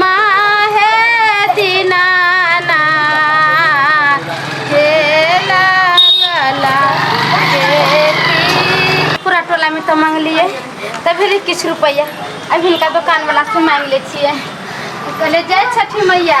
माहे दिनाना के लगला खेती। पूरा टोला में तो मांगलिए तब भेलै किछु रुपैआ अब हिनका दोकान वाला से मांगि लै छियै कहले जय छठी मैया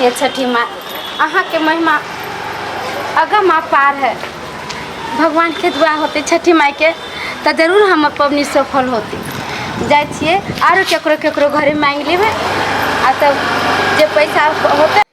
ये छठी माँ अहाँ के महिमा अगम अपार है भगवान के दुआ होते छठी माई के तऽ जरूर हम पबनी सफल होती जाइ छियै आरो केकरो केकरो घरे मांगि लेबै आ तब जे पैसा होते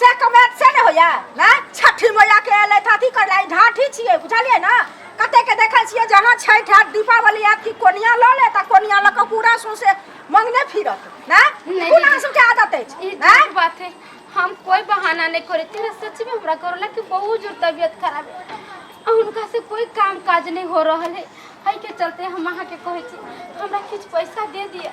से कमेंट से ने होया ना छठी मैया के एले थाथी कर लाई ढाठी छिए बुझलिए ना कते के देखै छिए जहां छै ठाट दीपावली आत की कोनिया ल ले त कोनिया ल के पूरा सु से मंगने फिरत ना नहीं, कोना दीदी। सब के आदत है ई ना ठीक बात है हम कोई बहाना नहीं करे थे सच में हमरा करोला के बहुत जोर तबीयत खराब है आ उनका से कोई काम काज नहीं हो रहल है है के चलते हम अहाँ के कहे छी हमरा किछु पैसा दे दिया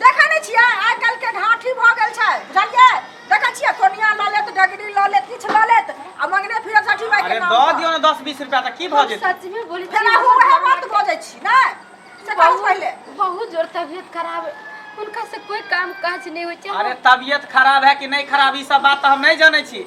देखै नहि छियै आइ काल्हिके घाठी भऽ गेल छै बुझलियै देखै छियै कोनिया लऽ लेत डगरी लऽ लेत किछु लऽ लेत आ मंगने फिरत छठी माय के अरे नाम दऽ पर। दियौ ने दस बीस रुपया तऽ की भऽ हम जेतै सच में बोली फेर अहूँ उएह बात बजै छी ने से कहू पहिले बहुत बहुत जोर तबियत खराब है उनका से कोई काम काज नहीं होय छै अरे तबियत खराब है कि नहीं खराब ई सब बात तो हम नहीं जाने छी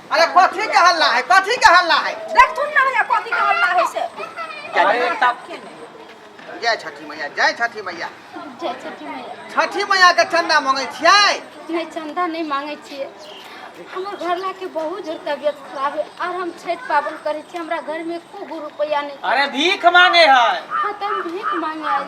अरे कथी के हल्ला है कथी के हल्ला है देख थुन ना होइया कथी के हल्ला होइ छै अरे तब जय छठी मैया जय छठी मैया जय छठी मैया छठी मैया के चंदा मांगे छियै नहीं चंदा नहीं मांगे छिए हमर घरला के बहुत जोर तबियत खराब है और हम छठ पाबन करे छी हमरा घर में एको गो रुपया नहीं अरे भीख मांगे है खत्म भीख मांगे आयल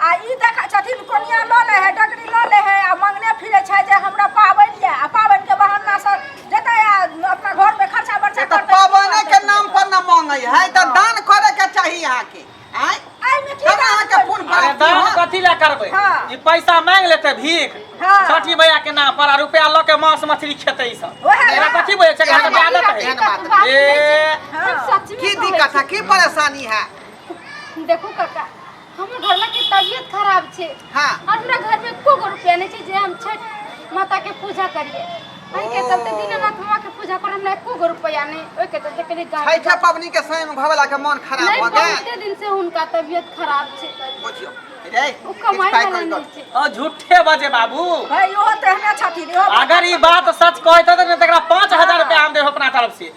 आ ई देखै छथिन कोनिया लऽ ले है डगरी लऽ ले है आ मंगने फिरे छै जे हमरा पाबनि ये आ पाबनि के बहाना से जेतै आ अपना घर में खर्चा बर्चा तऽ करतै पाबने के नाम पर न मांगे है तऽ दान करे के चाहिए अहाँ के आय एहिमे की तब अहाँ के दान पुण्य अरे प्राप्ति दान होत। कथी ला करबै हाँ। ई पैसा मांग लेतै भीख हाँ। छठी मैया के नाम पर आ रुपया लऽ के मांस मछली खेतै ई सब ओहे एकरा ना। कथी बुझै छै एकरा एहन के बात- आदत एहन है बात ए हम सच में की कहै दिक्कत है की परेशानी है छी। देखू काका हमर घर में के तबियत खराब छे हाँ और हमरा घर में एको गो रुपया नहीं छे जे हम छठ माता के पूजा करिए हम के चलते ओ। दिन रात माँ के पूजा कर हमरा एको गो रुपया नहीं ओए के चलते कनी गाँव छठा पबनी के समय में घबला के मन खराब नहीं हो गए बहुते दिन से उनका तबियत खराब छे बुझियो रे उ कमाई किछु पाइ वाला करि दो। नहीं छे और झूठे बजे बाबू भाई ओहो तो हमरा छठी रे अगर ये बात सच कहते तो तकरा पाँच हजार रुपया हम देब अपना तरफ से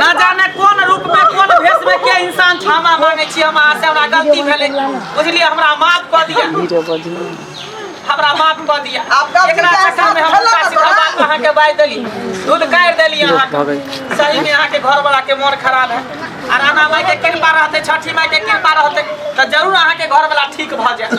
ना जाने कोन रूप में कोन भेष में के इंसान क्षमा मांगे छी हम अहाँ से हमरा गलती भेले बुझलिए हमरा माफ कर दिया हमरा माफ कर दिया आपका एकरा विचार चक्कर में हम साफ उल्टा सीधा बात अहाँ के बाज देली दूध काट देली अहाँ के सही में अहाँ के घर वाला के मन खराब है आ राना माई के कृपा रहते छठी माई के कृपा रहते तो जरूर अहाँ के घर वाला ठीक भ जाए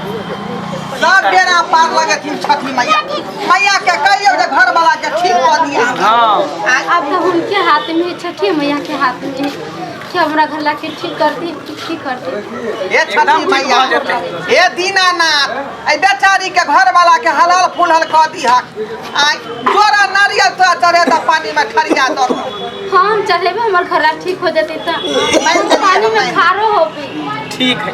सब बेरा पार लगे थी छठी मैया मैया के कहियो जे घर वाला के ठीक कर दिया हां अब तो उनके हाथ में है छठी मैया के हाथ में है कि हमरा घर ला के ठीक कर दी ठीक कर दी हे छठी मैया हे दीनानाथ ए बेचारी के घर वाला के हलाल फुलहल कर दिया आ जोरा नारियल तो चढ़े त पानी में खरिया दो हाँ हम चलेबे हमर घर ला ठीक हो जते तो पानी में खारो होबे ठीक है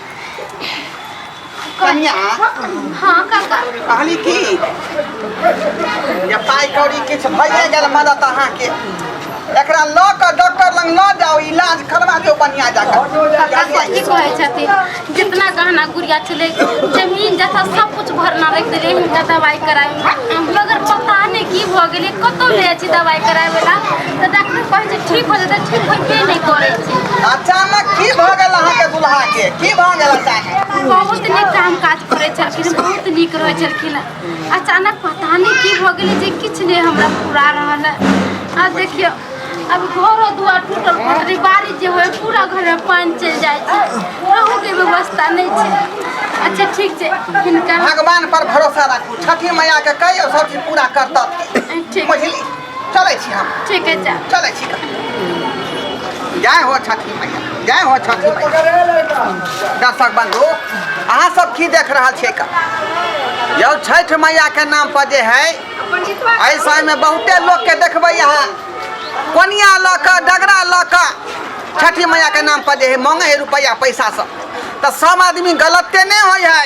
कनिया हाँ काका कहली की जे पाइ कौड़ी किछु भइए गेल मदद अहाँके एकरा लऽ कऽ डॉक्टर लग लऽ जाओ इलाज करवा दियौ बढ़िया जाकर काका सही कहै छथिन जितना गहना गुड़िया छलै जमीन जथा सब कुछ भरना रख देले हिनका दवाई कराबे मगर पता नहीं की भऽ गेलै कतौ ले छी दवाई कराबे ला तऽ डॉक्टर कहै छै ठीक हो जेतै ठीक होइबे नहि करै छै अचानक की भऽ गेल अहाँके दुल्हा के की भऽ गेल अचानक बहुत नीक काम काज करै छलखिन बहुत नीक रहै छलखिन अचानक पता नहि की भऽ गेलै जे किछु नहि हमरा पूरा रहल है आ देखियौ अब घरो दुआर टूटल फटल बारिश जे होय पूरा घर में पानी चल जाए रहू के व्यवस्था नहीं छै अच्छा ठीक छै हिनका भगवान पर भरोसा राखू छठी मैया के कहियो सब चीज पूरा करतत ठीक बुझली चलै छी हम ठीक है जा चलै छी जय हो छठी मैया जय हो छठी मैया दर्शक बंधु अहाँ सब की देख रहल छियै का यौ छठ मैया के नाम पर जे है एहि समय में बहुते लोग के देखबै यहाँ कोनिया लऽ कऽ डगरा लऽ कऽ छठी मैया के नाम पर जे है मांगे है रुपैया पैसा सब तऽ सब आदमी गलते नहि होइ है